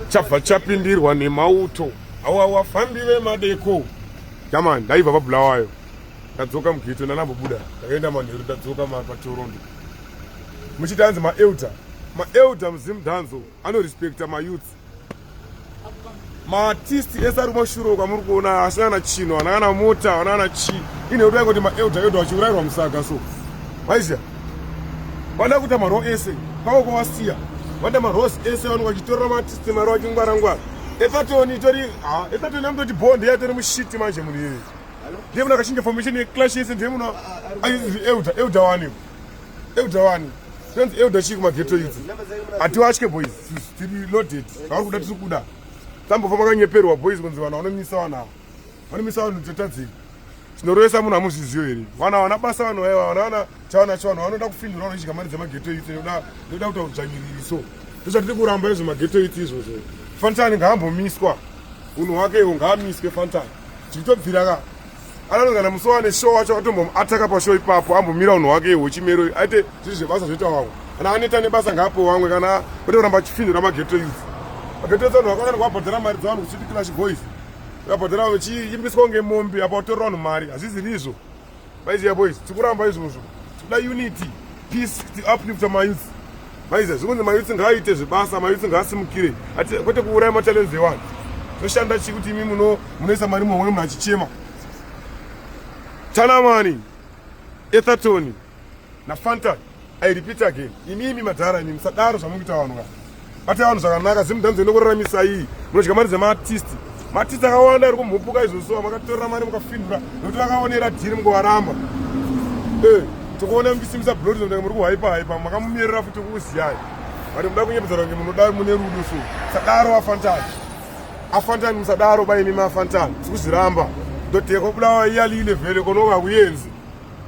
chabva chapindirwa nemauto awa wafambi vemadeko jamani ndaibva pabulawayo ndadzoka mugeto ndanambobuda ndakaenda manheru ndadzoka patorondo muchiti anzi maelder maelder muzimu danzo anorespecta mayouth maartist ese ari kumashuro kwamuri kuona asina na chino anakana mota anakana chii ine kuti aingoti maelder elder vachiurairwa musaga so maiziva vada kuita maro ese kwavo kwavasiya vada maros ese vanhu vachitorera maartist mari vachingwara ngwara epatoni itori ha epatoni amutoti bond yatori mushiti manje munhu iyoyo ndiye munhu akachinja formation yeclash yese ndiye munhu aizi elder elder wani elder wani tonzi elder chii kumageto idzi hatiwatye boys tiri loaded vauri kuda tiri kuda tambofamba kanyeperwa boys kunzi vanhu vanomisa vanhu ava vanomisa vanhu dzotadzei zvinorovesa munhu amuzviziyo here vana vana basa vanhu vaiva vana vana chawana chawana vanoda kufindura vanochika mari dzemageto iti ndoda ndoda kuta kudzvanyiriri so ndozvatiri kuramba izvo mageto iti izvozvo fantani ngaambomiswa unhu wake iwo ngaamiswe fantani tikutobvira ka ananogana musi wane show wacho atombomuataka pashow ipapo ambomira unhu wake iwo chimero aite zviri zvebasa zvoita wamwe kana aneta nebasa ngaapo wamwe kana ote kuramba achifindura mageto iti mageto iti vanhu vakakana kuabhadhara mari dzavanhu kuchiti clash boys Vakabhadhara vanhu vachiimbiswa kunge mombe apa kutorera vanhu mari hazvizi rizvo. Maiziya boys tikuramba izvozvo tikuda unity peace tiuplifta mayouth maiziya zvikunzi mayouth ngaaite zvebasa mayouth ngaasimukire kwete kuuraya matalents evanhu toshanda chii kuti imi munoisa mari muhomwe munhu achichema tanamani ethatoni nafanta I repeat again, imi imi madhara imi musadaro zvamukuita vanhu ka. Bata vanhu zvakanaka, zimu dance inokuraramisai iyi. Munodya mari dzema artist. Ma artist akawanda ari kumhupuka izvo so makatora mari mukafindura nokuti vakaonera dhiri mukuvaramba. Eh, tokuona muchisimisa blood zvoda muri kuhypa hypa makamumerera futi kuziyai. Vari muda kunyepedza range munoda mune rudo so. Sadaro afantani. Afantani musadaro bai imi afantani. Sikuziramba. Ndotekwa bulawa iyali ile vele konoka kuyenzi.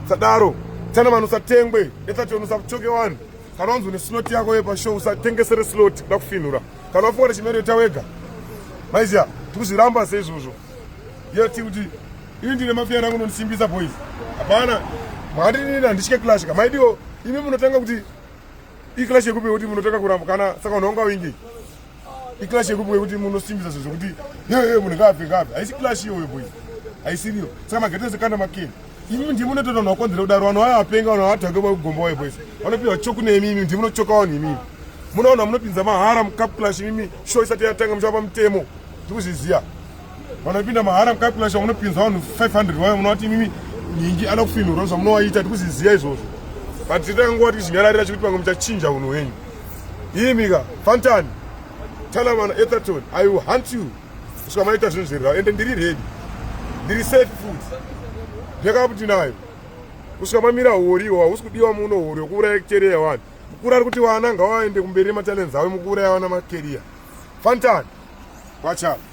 sadaro tana vanhu usatengwe etati vanhu usachoke vanhu kana wanzwa nesinoti yako yepashow usatengesere slot kuda kufinhura kana wafunga kuti chimero ita wega maiziya tikuzviramba seizvozvo yeti kuti ini ndine mafiya rangu nondisimbisa boys hapana mwandirini handitye clash ka maidiwo imi munotanga kuti iclash yekupi kuti munotanga kuramba kana saka unhu wanga wingi iclash yekubuka yekuti munosimbisa zvinhu zvekuti yeye munhu ngaabve ngaabve haisi clash iyoyo boys haisiriyo saka magate ese kana makeni imi ndimi munotoita vanhu vakonzera kudaro vanhu vaya vapenga vanhu vavatanga vagomba waye boys vanopiwa choku nemi imi ndimi munochoka vanhu imimi munoona munopinza mahara mucup clash imimi show isati yatanga muchava pamutemo ndikuzviziva vanopinda mahara mucalculation munopinza vanhu 500 vayo munovati imimi nyingi ana kufinhura zvamunovaita tikuziziva izvozvo but titanguva tichinyararira chekuti pamwe muchachinja unhu hwenyu imika fantan talamana etherton i will hunt you kusvika maita zvinhu zvirira ende ndiri redi ndiri safe food ndakava kuti nayo kusvika mamira hori iwo hausi kudiwa muno hori wekuuraya kereya wani mukuru ari kuti vana ngavaende kumberi nematalents avo mukuuraya vana makeriya fantan wachava